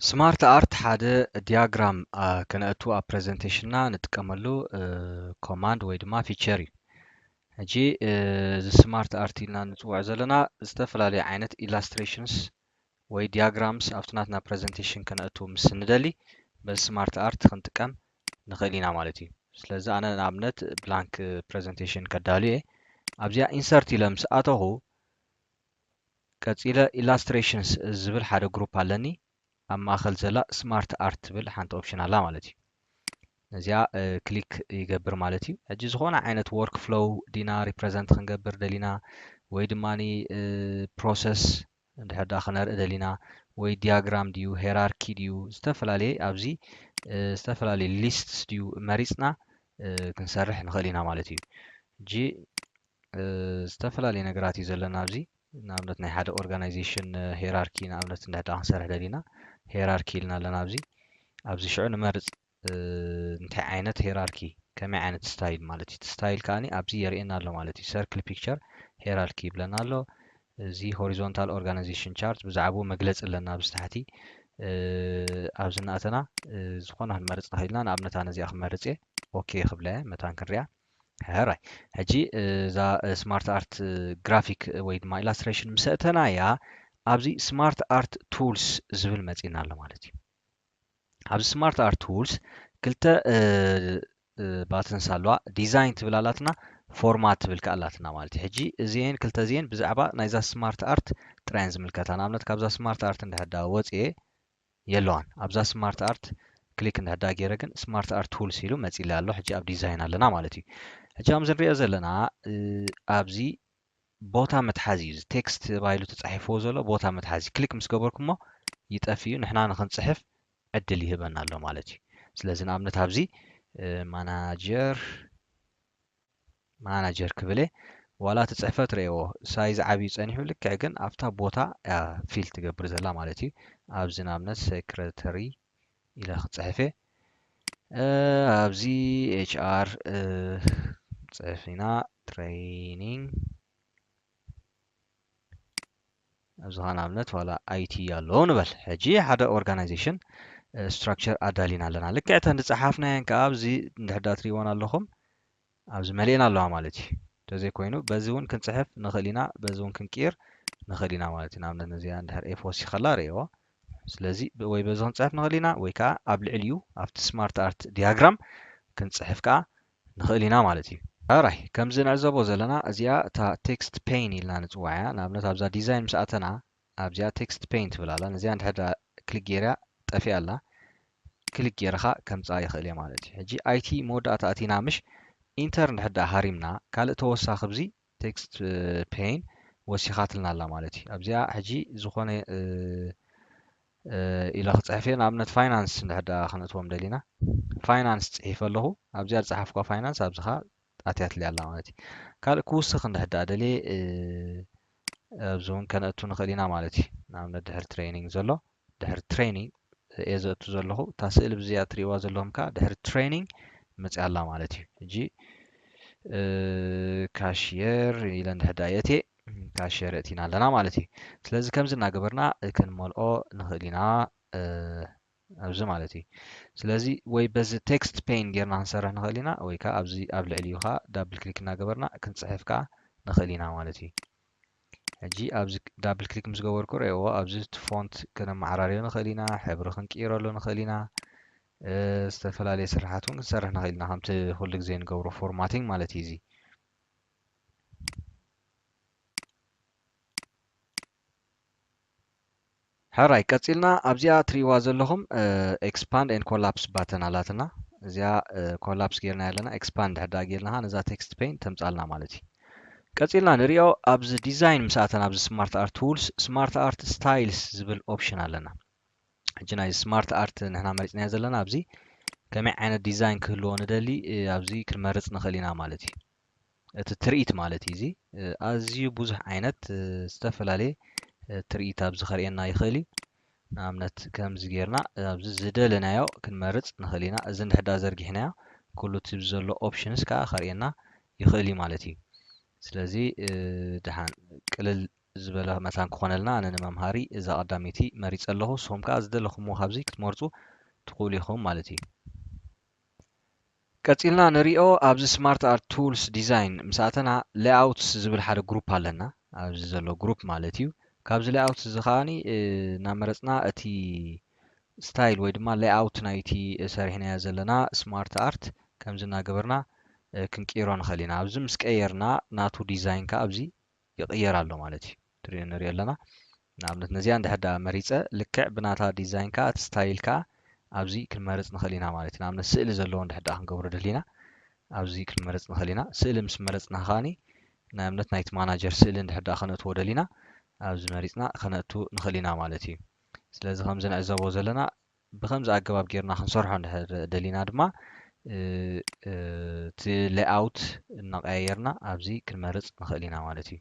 ስማርት ኣርት ሓደ ዲያግራም ከነእቱ ኣብ ፕሬዘንቴሽንና ንጥቀመሉ ኮማንድ ወይ ድማ ፊቸር እዩ ሕጂ እዚ ስማርት ኣርት ኢልና ንፅውዖ ዘለና ዝተፈላለዩ ዓይነት ኢላስትሬሽንስ ወይ ዲያግራምስ ኣብቲ ናትና ፕረዘንቴሽን ከነእቱ ምስ ንደሊ በዚ ስማርት ኣርት ክንጥቀም ንኽእል ኢና ማለት እዩ። ስለዚ ኣነ ንኣብነት ብላንክ ፕረዘንቴሽን ከዳሉ እየ። ኣብዚኣ ኢንሰርት ኢለ ምስ ኣተኹ ቀጺለ ኢላስትሬሽንስ ዝብል ሓደ ግሩፕ ኣለኒ። ኣብ ማእከል ዘላ ስማርት ኣርት ትብል ሓንቲ ኦፕሽን ኣላ ማለት እዩ። ነዚኣ ክሊክ ይገብር ማለት እዩ ሕጂ ዝኾነ ዓይነት ወርክ ፍሎው ዲና ሪፕረዘንት ክንገብር ደሊና ወይ ድማ ፕሮሰስ እንድሕር ዳ ክነርኢ ደሊና ወይ ዲያግራም ድዩ ሄራርኪ ድዩ ዝተፈላለየ ኣብዚ ዝተፈላለየ ሊስትስ ድዩ መሪፅና ክንሰርሕ ንኽእል ኢና ማለት እዩ ሕጂ ዝተፈላለየ ነገራት እዩ ዘለና ኣብዚ ንኣብነት ናይ ሓደ ኦርጋናይዜሽን ሄራርኪ ንኣብነት እንድሕዳ ክንሰርሕ ደሊና ሄራርኪ ኢልና ኣለና ኣብዚ ኣብዚ ሽዑ ንመርጽ እንታይ ዓይነት ሄራርኪ ከመይ ዓይነት ስታይል ማለት እዩ እቲ ስታይል ከኣኒ ኣብዚ የርእየና ኣሎ ማለት እዩ ሰርክል ፒክቸር ሄራርኪ ይብለና ኣሎ እዚ ሆሪዞንታል ኦርጋናይዜሽን ቻርት ብዛዕባኡ መግለጺ ኣለና ኣብዚ ታሕቲ ኣብዚ እናእተና ዝኾነ ክንመርጽ ንኽእል ኢና ንኣብነት ኣነ እዚኣ ክመርጽ እየ ኦኬ ክብላ እየ መታን ክንሪኣ ሕራይ ሕጂ እዛ ስማርት ኣርት ግራፊክ ወይ ድማ ኢላስትሬሽን ምስ ኣእተናያ ኣብዚ ስማርት ኣርት ቱልስ ዝብል መጺና ኣሎ ማለት እዩ ኣብዚ ስማርት ኣርት ቱልስ ክልተ ባትንስ ኣለዋ ዲዛይን ትብል ኣላትና ፎርማት ትብል ከዓ ኣላትና ማለት እዩ ሕጂ እዚኤን ክልተ እዚኤን ብዛዕባ ናይዛ ስማርት ኣርት ጥራየን ዝምልከታ ንኣብነት ካብዛ ስማርት ኣርት እንድሕር ዳ ወፅኤ የለዋን ኣብዛ ስማርት ኣርት ክሊክ እንድሕዳ ገይረ ግን ስማርት ኣርት ቱልስ ኢሉ መጺለይ ኣሎ ሕጂ ኣብ ዲዛይን ኣለና ማለት እዩ ሕጂ ከምዚ ንሪኦ ዘለና ኣብዚ ቦታ መትሓዚ እዩ ቴክስት ተባሂሉ ተጻሒፍዎ ዘሎ ቦታ መትሓዚ ክሊክ ምስ ገበርኩሞ ይጠፍ እዩ ንሕና ንክንጽሕፍ ዕድል ይህበና ኣሎ ማለት እዩ ስለዚ ንኣብነት ኣብዚ ማናጀር ማናጀር ክብል እየ ዋላ እቲ ጽሕፈት ረኤዎ ሳይዝ ዓብዩ ጸኒሑ ልክዕ ግን ኣብታ ቦታ እያ ፊል ትገብር ዘላ ማለት እዩ ኣብዚ ንኣብነት ሴክረተሪ ኢለ ክጽሕፍ እየ ኣብዚ ኤች ኣር ጽሕፍ ኢና ትሬኒንግ ኣብዚ ኸኣ ንኣብነት ዋላ ኣይቲ ኣሎ ንበል ሕጂ ሓደ ኦርጋናይዜሽን ስትራክቸር ኣዳሊና ኣለና ልክዕ እተን ዝጸሓፍናየን ከኣ ኣብዚ እንድሕዳ ትሪእዎን ኣለኹም ኣብዚ መሊኤን ኣለዋ ማለት እዩ እንተዘይኮይኑ በዚ እውን ክንጽሕፍ ንኽእል ኢና በዚ እውን ክንቅይር ንኽእል ኢና ማለት እዩ ንኣብነት ነዚኣ እንድሕር ኤፍ ወሲኸ ከላ ርእየዋ ስለዚ ወይ በዚ ክንጽሕፍ ንኽእል ኢና ወይ ከዓ ኣብ ልዕሊኡ ኣብቲ ስማርት ኣርት ዲያግራም ክንጽሕፍ ከዓ ንኽእል ኢና ማለት እዩ። ራይ ከምዚ ንዕዘቦ ዘለና እዚኣ እታ ቴክስት ፔን ኢልና ንጽውዓ እያ። ንኣብነት ኣብዛ ዲዛይን ምስ ኣተና ኣብዚኣ ቴክስት ፔን ትብል ኣላ። ነዚኣ እንድሕር ክሊክ ጌርያ ጠፊኣ ኣላ። ክሊክ ጌረ ከኣ ከምጽኣ ይኽእል እየ ማለት እዩ። ሕጂ IT መወዳእታ ኣቲና ምሽ? ኢንተር እንድሕር ሃሪምና ካልእ ተወሳኺ ብዚ text pane ወሲኻትልና ኣላ ማለት እዩ ኣብዚኣ ሕጂ ዝኾነ ኢለ ክጽሕፍ እየ ንኣብነት ፋይናንስ እንድሕር ደኣ ክነእትዎም ደሊና ፋይናንስ ጽሒፈ ኣለኹ ኣብዚኣ ዝጸሓፍኳ ፋይናንስ ኣብዚ ከኣ ኣትያትልያ ኣላ ማለት እዩ ካልእ ክውስኽ እንድሕር ደኣ ደልየ ኣብዚ እውን ከነእቱ ንኽእል ኢና ማለት እዩ ንኣብነት ድሕሪ ትሬኒንግ ዘሎ ድሕሪ ትሬኒንግ እየ ዘእቱ ዘለኹ እታ ስእሊ ብዚኣ ትሪእዋ ዘለኹም ከዓ ድሕሪ ትሬኒንግ መፅያ ኣላ ማለት እዩ ሕጂ ካሽየር ኢለ እንድሕር ድኣ የእትየ ካሽየር እእቲና ኣለና ማለት እዩ ስለዚ ከምዚ እናገበርና ክንመልኦ ንኽእል ኢና ኣብዚ ማለት እዩ ስለዚ ወይ በዚ ቴክስት ፔን ጌርና ክንሰርሕ ንኽእል ኢና ወይ ከዓ ኣብዚ ኣብ ልዕሊኡ ከዓ ዳብል ክሊክ እናገበርና ክንፅሕፍ ከዓ ንኽእል ኢና ማለት እዩ ሕጂ ኣብዚ ዳብል ክሊክ ምስ ገበርኩ ረእዎ ኣብዚ እቲ ፎንት ከነመዓራርዮ ንኽእል ኢና ሕብሪ ክንቅይረሉ ንኽእል ኢና ዝተፈላለየ ስራሓት እውን ክንሰርሕ ንኽእል ኢና ከምቲ ኩሉ ግዜ ንገብሮ ፎርማቲንግ ማለት እዩ እዚ ሕራይ ቀጺልና ኣብዚኣ ትሪእዋ ዘለኹም ኤክስፓንድ ኤንድ ኮላፕስ ባተን ኣላትና እዚኣ ኮላፕስ ጌርና ኣለና ኤክስፓንድ ድሕር ድኣ ጌርና ኸኣ ነዛ ቴክስት ፔን ተምጻልና ማለት እዩ ቀጺልና ንሪኦ ኣብዚ ዲዛይን ምስ ኣተና ኣብዚ ስማርት ኣርት ቱልስ ስማርት ኣርት ስታይልስ ዝብል ኦፕሽን ኣለና ሕጂ ናይ ስማርት ኣርት ንሕና መሪፅናዮ ዘለና ኣብዚ ከመይ ዓይነት ዲዛይን ክህልዎ ንደሊ ኣብዚ ክንመርፅ ንኽእል ኢና ማለት እዩ እቲ ትርኢት ማለት እዩ እዚ ኣዝዩ ብዙሕ ዓይነት ዝተፈላለየ ትርኢት ኣብዚ ከርእየና ይኽእል እዩ ንኣብነት ከምዚ ጌርና ኣብዚ ዝደለናዮ ክንመርጽ ንኽእል ኢና እዚ እንድሕዳ ዘርጊሕናዮ ኩሉ እቲ ዘሎ ኦፕሽንስ ከዓ ከርእየና ይኽእል እዩ ማለት እዩ ስለዚ ድሓን ቅልል ዝበለ መታን ክኾነልና ኣነ ንመምሃሪ እዛ ቀዳመይቲ መሪጸ ኣለኹ ንስኹም ከዓ ዝደለኹምዎ ካብዚ ክትመርጹ ትኽእሉ ኢኹም ማለት እዩ ቀጺልና ንሪኦ ኣብዚ ስማርት ኣርት ቱልስ ዲዛይን ምስ ኣተና ሌኣውትስ ዝብል ሓደ ግሩፕ ኣለና ኣብዚ ዘሎ ግሩፕ ማለት እዩ ካብዚ ሌኣውትስ እዚ ከኣ እናመረጽና እቲ ስታይል ወይ ድማ ሌኣውት ናይቲ ሰሪሕናዮ ዘለና ስማርት ኣርት ከምዚ እናገበርና ክንቅይሮ ንኽእል ኢና ኣብዚ ምስ ቀየርና ናቱ ዲዛይን ከኣ ኣብዚ ይቕየር ኣሎ ማለት እዩ ትሪኦ ንሪኦ ኣለና ንኣብነት ነዚኣ እንድሕር ደኣ መሪጸ ልክዕ ብናታ ዲዛይን ከዓ እቲ ስታይል ከዓ ኣብዚ ክንመርጽ ንኽእል ኢና ማለት እዩ ንኣብነት ስእሊ ዘለዎ እንድሕር ደኣ ክንገብሮ ደሊና ኣብዚ ክንመርጽ ንኽእል ኢና ስእሊ ምስ መረጽና ከዓኒ ናይ እምነት ናይቲ ማናጀር ስእሊ እንድሕር ደኣ ከነእትዎ ደሊና ኣብዚ መሪጽና ከነእቱ ንኽእል ኢና ማለት እዩ ስለዚ ከምዚ ንዕዘቦ ዘለና ብኸምዚ ኣገባብ ጌርና ክንሰርሖ እንድሕር ደሊና ድማ እቲ ሌይኣውት እናቐያየርና ኣብዚ ክንመርጽ ንኽእል ኢና ማለት እዩ።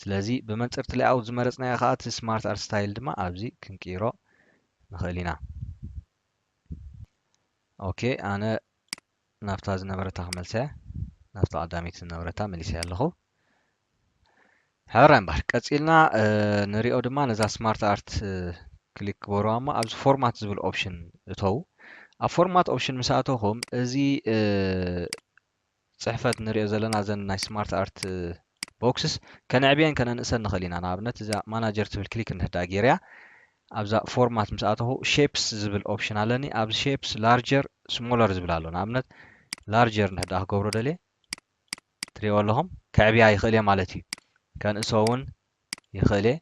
ስለዚ ብመንጽር እቲ ሌይኣውት ዝመረጽናዮ ከኣ እቲ ስማርት ኣርት ስታይል ድማ ኣብዚ ክንቅይሮ ንኽእል ኢና። ኦኬ ኣነ ናብታ ዝነበረታ ክመልሳያ ናብታ ቀዳሚት ዝነበረታ መሊሰያ ኣለኹ። ሕራይ እምበር ቀጺልና ንሪኦ ድማ ነዛ ስማርት ኣርት ክሊክ ክበሩዋ እሞ ኣብዚ ፎርማት ዝብል ኦፕሽን እተዉ ኣብ ፎርማት ኦፕሽን ምስ ኣተኹም እዚ ጽሕፈት ንሪኦ ዘለና ዘን ናይ ስማርት ኣርት ቦክስስ ከነዕብየን ከነንእሰን ንኽእል ኢና። ንኣብነት እዛ ማናጀር ትብል ክሊክ እንድሕዳኣ ጌረያ ኣብዛ ፎርማት ምስ ኣተኹ ሼፕስ ዝብል ኦፕሽን ኣለኒ ኣብዚ ሼፕስ ላርጀር ስሞለር ዝብል ኣሎ ንኣብነት ላርጀር እንድሕዳኣ ክገብሮ ደልየ ትሪእዎ ኣለኹም ከዕብያ ይኽእል እየ ማለት እዩ ከንእሶ እውን ይኽእል እየ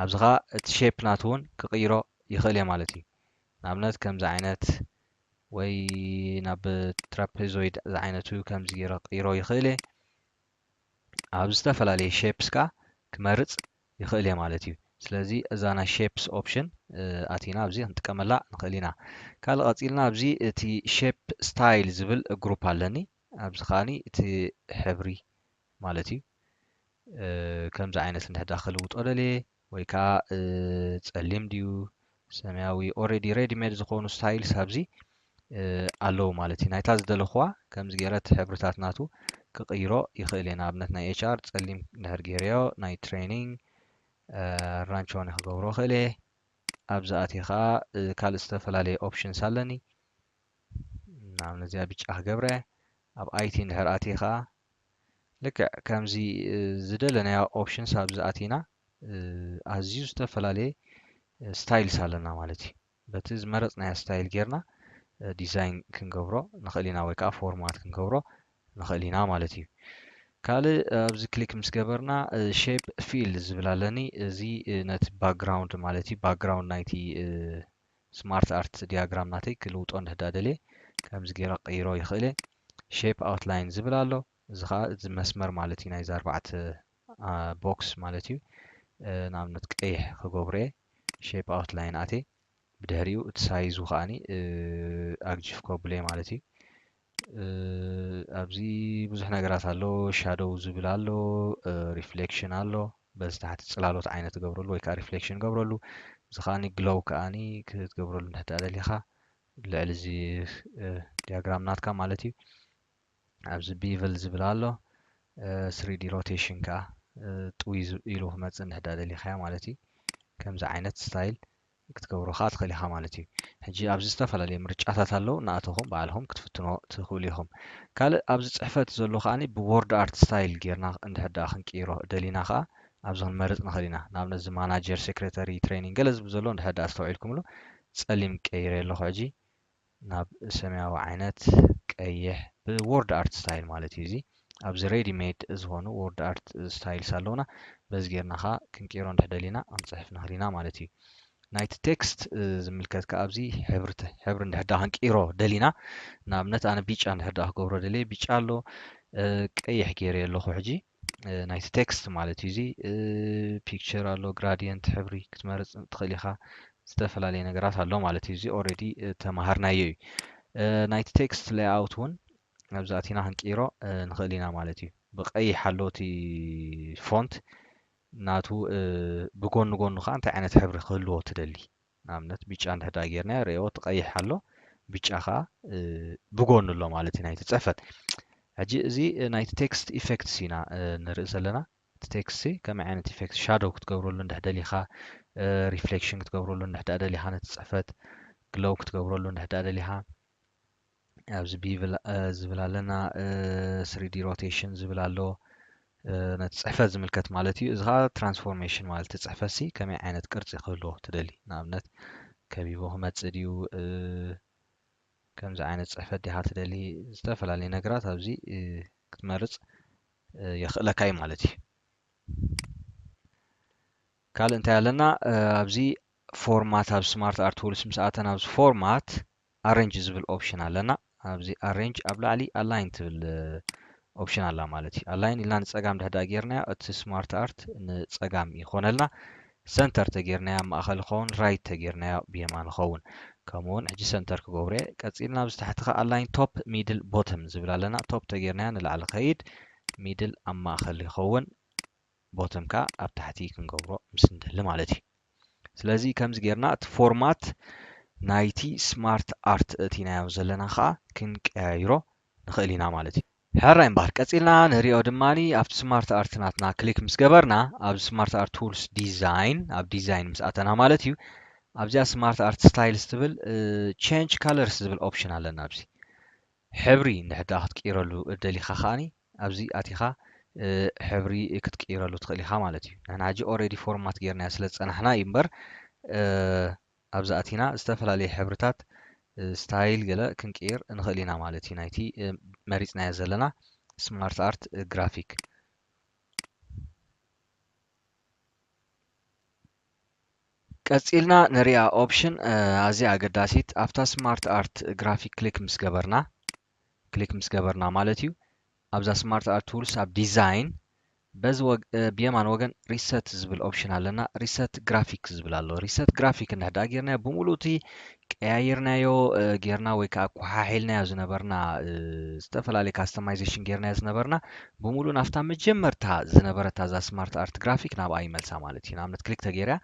ኣብዚ ኸኣ እቲ ሼፕ ናቱ እውን ክቕይሮ ይኽእል እየ ማለት እዩ ንኣብነት ከምዚ ዓይነት ወይ ናብ ትራፔዞይድ ዝዓይነቱ ከምዚ ጌረ ክቕይሮ ይኽእል እየ ኣብ ዝተፈላለየ ሼፕስ ከኣ ክመርጽ ይኽእል እየ ማለት እዩ። ስለዚ እዛ ናይ ሼፕስ ኦፕሽን ኣቲና ኣብዚ ክንጥቀመላ ንኽእል ኢና። ካልእ ቀጺልና ኣብዚ እቲ ሼፕ ስታይል ዝብል ግሩፕ ኣለኒ። ኣብዚ ከኣ እቲ ሕብሪ ማለት እዩ ከምዚ ዓይነት እንድሕዳ ክልውጦ ደልየ ወይ ከኣ ጸሊም ድዩ ሰማያዊ ኦሬዲ ሬዲ ሜድ ዝኾኑ ስታይልስ ኣብዚ ኣለዉ ማለት እዩ ናይታ ዝደለኹዋ ከምዚ ገይረት ሕብርታት ናቱ ክቕይሮ ይኽእል እየ ንኣብነት ናይ ኤች ኣር ጸሊም ድሕር ገይረዮ ናይ ትሬኒንግ ራንቸዋኒ ክገብሮ ክእል እየ ኣብዚ ኣትየ ከዓ ካልእ ዝተፈላለየ ኦፕሽንስ ኣለኒ ናብ ነዚኣ ብጫ ክገብረ ኣብ ኣይቲ እንድሕር ኣቲኻ ልክዕ ከምዚ ዝደለናዮ ኦፕሽንስ ኣብዚ ኣቲና ኣዝዩ ዝተፈላለየ ስታይልስ ኣለና ማለት እዩ በቲ ዝመረፅናዮ ስታይል ጌርና ዲዛይን ክንገብሮ ንኽእል ኢና ወይ ከዓ ፎርማት ክንገብሮ ንኽእል ኢና ማለት እዩ ካልእ ኣብዚ ክሊክ ምስ ገበርና ሼፕ ፊል ዝብል ኣለኒ እዚ ነቲ ባክግራውንድ ማለት እዩ ባክግራውንድ ናይቲ ስማርት ኣርት ድያግራም ናተይ ክልውጦ እንድሕዳ ደልየ ከምዚ ጌረ ክቅይሮ ይክእል እየ ሼፕ ኣውትላይን ዝብል ኣሎ እዚ ከኣ እዚ መስመር ማለት እዩ ናይዚ ኣርባዕተ ቦክስ ማለት እዩ ንኣብነት ቀይሕ ክገብሮ እየ ሼፕ ኣውትላይን ኣትየ ብድሕሪኡ እቲ ሳይዙ ከኣ ኣግጂፍ ከብሎ እየ ማለት እዩ ኣብዚ ብዙሕ ነገራት ኣሎ ሻዶው ዝብል ኣሎ ሪፍሌክሽን ኣሎ በዚ ታሕቲ ጽላሎት ዓይነት ትገብረሉ ወይ ከዓ ሪፍሌክሽን ገብረሉ እዚ ከዓኒ ግሎው ከዓኒ ክትገብረሉ እንድሕር ድኣ ደሊኻ ልዕሊ እዚ ዲያግራም ናትካ ማለት እዩ ኣብዚ ቢቭል ዝብል ኣሎ ስሪዲ ሮቴሽን ከዓ ጥውይ ኢሉ ክመፅእ እንድሕር ድኣ ደሊኻ ማለት እዩ ከምዚ ዓይነት ስታይል ክትገብሮ ከኣ ትኽእል ኢኻ ማለት እዩ። ሕጂ ኣብዚ ዝተፈላለዩ ምርጫታት ኣለዉ እናኣተኹም ባዕልኹም ክትፍትንዎ ትኽእሉ ኢኹም። ካልእ ኣብዚ ጽሕፈት ዘሎ ከኣ ብዎርድ ኣርት ስታይል ጌርና እንድሕር ደኣ ክንቅይሮ ደሊና ከኣ ኣብዚ ክንመርጽ ንኽእል ኢና። ንኣብነት እዚ ማናጀር፣ ሴክሬተሪ፣ ትሬኒንግ ገለ ዝብል ዘሎ እንድሕር ደኣ ኣስተውዒልኩምሉ ጸሊም ቀይሬ ኣለኹ ሕጂ። ናብ ሰማያዊ ዓይነት ቀይሕ ብዎርድ ኣርት ስታይል ማለት እዩ እዚ ኣብዚ ሬዲ ሜድ ዝኾኑ ዎርድ ኣርት ስታይልስ ኣለውና በዚ ጌርና ኸዓ ክንቅይሮ እንድሕ ደሊና ክንፅሕፍ ንኽእል ኢና ማለት እዩ ናይቲ ቴክስት ዝምልከት ከዓ ኣብዚ ሕብሪ ሕብሪ እንድሕር ዳኣ ክንቅይሮ ደሊና ንኣብነት ኣነ ቢጫ እንድሕር ዳኣ ክገብሮ ደልየ ቢጫ ኣሎ ቀይሕ ገይረዮ ኣለኹ ሕጂ ናይቲ ቴክስት ማለት እዩ እዚ ፒክቸር ኣሎ ግራዲየንት ሕብሪ ክትመርፅ ትኽእል ኢኻ ዝተፈላለየ ነገራት ኣሎ ማለት እዩ እዚ ኦልሬዲ ተማሃርናዮ እዩ ናይቲ ቴክስት ሌይኣውት እውን ኣብዚ ኣቲና ክንቅይሮ ንኽእል ኢና ማለት እዩ ብቀይሕ ኣሎ እቲ ፎንት ናቱ ብጎኒ ጎኑ ከዓ እንታይ ዓይነት ሕብሪ ክህልዎ ትደሊ ንኣብነት ብጫ እንድሕዳ ጌርናዮ ርኤዎ እቲ ቀይሕ ኣሎ ብጫ ከኣ ብጎኑ ኣሎ ማለት እዩ ናይቲ ጽሕፈት ሕጂ እዚ ናይቲ ቴክስት ኢፌክትስ ኢና ንርኢ ዘለና እቲ ቴክስት ከመይ ዓይነት ኢፌክት ሻዶው ክትገብረሉ እንድሕ ደሊኻ ሪፍሌክሽን ክትገብረሉ እንድሕዳ ደሊኻ ነቲ ጽሕፈት ግለው ክትገብረሉ እንድሕዳ ደሊኻ ኣብዚ ብ ዝብል ኣለና ስሪዲ ሮቴሽን ዝብል ኣሎ ነቲ ፅሕፈት ዝምልከት ማለት እዩ እዚ ከዓ ትራንስፎርሜሽን ማለት እቲ ፅሕፈት ሲ ከመይ ዓይነት ቅርፂ ክህልዎ ትደሊ ንኣብነት ከቢቦ ክመፅእ ድዩ ከምዚ ዓይነት ፅሕፈት ዲኻ ትደሊ ዝተፈላለዩ ነገራት ኣብዚ ክትመርፅ የኽእለካ እዩ ማለት እዩ ካልእ እንታይ ኣለና ኣብዚ ፎርማት ኣብ ስማርት ኣርት ቱልስ ምስ ኣተና ኣብዚ ፎርማት ኣሬንጅ ዝብል ኦፕሽን ኣለና ኣብዚ ኣሬንጅ ኣብ ላዕሊ ኣላይን ትብል ኦፕሽን ኣላ ማለት እዩ ኣላይን ኢልና ንፀጋም ድሕዳ ጌርናዮ እቲ ስማርት ኣርት ንፀጋም ይኾነልና ሰንተር ተጌርናዮ ኣብ ማእኸል ይኸውን ራይት ተጌርናዮ ብየማን ይኸውን ከምኡውን ሕጂ ሰንተር ክገብሮ እየ ቀፂልና ኣብዚ ታሕቲ ከዓ ኣላይን ቶፕ ሚድል ቦተም ዝብል ኣለና ቶፕ ተጌርናዮ ንላዕሊ ከይድ ሚድል ኣብ ማእኸል ይኸውን ቦተም ከኣ ኣብ ታሕቲ ክንገብሮ ምስ እንደሊ ማለት እዩ። ስለዚ ከምዚ ጌርና እቲ ፎርማት ናይቲ ስማርት ኣርት ኣእቲናዮ ዘለና ከኣ ክንቀያይሮ ንኽእል ኢና ማለት እዩ። ሕራይ እምበኣር ቀጺልና ንርእዮ ድማ ኣብቲ ስማርት ኣርት ናትና ክሊክ ምስ ገበርና ኣብዚ ስማርት ኣርት ቱልስ ዲዛይን ኣብ ዲዛይን ምስ ኣተና ማለት እዩ ኣብዚኣ ስማርት ኣርት ስታይልስ ትብል ቼንጅ ከለርስ ዝብል ኦፕሽን ኣለና ኣብዚ ሕብሪ እንድሕድኣ ክትቅይረሉ ደሊኻ ከኣ ኣብዚ ኣቲኻ ሕብሪ ክትቅይረሉ ትኽእል ኢኻ ማለት እዩ ንሕና ሕጂ ኦሬዲ ፎርማት ጌርናዮ ስለ ዝጸናሕና እዩ እምበር ኣብዚ ኣቲና ዝተፈላለየ ሕብርታት ስታይል ገለ ክንቅይር ንኽእል ኢና ማለት እዩ ናይቲ መሪጽናዮ ዘለና ስማርት ኣርት ግራፊክ ቀጺልና ንሪኣ ኦፕሽን ኣዝያ ኣገዳሲት ኣብታ ስማርት ኣርት ግራፊክ ክሊክ ምስ ገበርና ክሊክ ምስ ገበርና ማለት እዩ ኣብዛ ስማርት ኣርት ቱልስ ኣብ ዲዛይን በዚ ብየማን ወገን ሪሰት ዝብል ኦፕሽን ኣለና ሪሰት ግራፊክ ዝብል ኣሎ ሪሰት ግራፊክ እንሕዳ ጌርና ብምሉእ እቲ ቀያይርናዮ ጌርና ወይ ከዓ ኮሓሒልናዮ ዝነበርና ዝተፈላለዩ ካስተማይዜሽን ጌርናዮ ዝነበርና ብምሉእ ናብታ መጀመርታ ዝነበረታ እዛ ስማርት ኣርት ግራፊክ ናብኣ ይመልሳ ማለት እዩ ንኣብነት ክሊክ ተገይርያ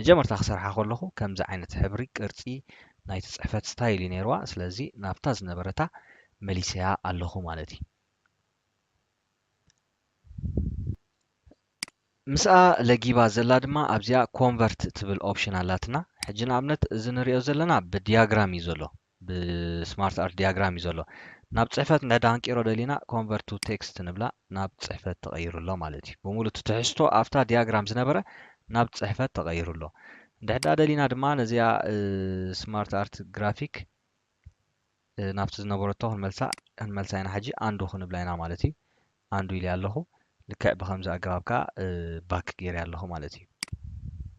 መጀመርታ ክሰርሓ ከለኹ ከምዚ ዓይነት ሕብሪ ቅርፂ ናይቲ ፅሕፈት ስታይል እዩ ነይርዋ ስለዚ ናብታ ዝነበረታ መሊሰያ ኣለኹ ማለት እዩ ምስኣ ለጊባ ዘላ ድማ ኣብዚኣ ኮንቨርት ትብል ኦፕሽን ኣላትና ሕጂ ንኣብነት እዚ ንሪኦ ዘለና ብድያግራም እዩ ዘሎ ብስማርት ኣርት ድያግራም እዩ ዘሎ ናብ ጽሕፈት እንድሕር ሃንቂሮ ደሊና ኮንቨርት ቱ ቴክስት ንብላ ናብ ጽሕፈት ተቐይሩ ኣሎ ማለት እዩ ብምሉ እቲ ትሕዝቶ ኣብታ ድያግራም ዝነበረ ናብ ጽሕፈት ተቐይሩ ኣሎ እንድሕር ደሊና ድማ ነዚኣ ስማርት ኣርት ግራፊክ ናብቲ ዝነበረቶ ክንመልሳ ክንመልሳ ኢና ሕጂ ኣንዱ ክንብላ ኢና ማለት እዩ ኣንዱ ኢልያ ኣለኹ ልክዕ ብከምዚ ኣገባብ ከኣ ባክ ጌርያ ኣለኹ ማለት እዩ።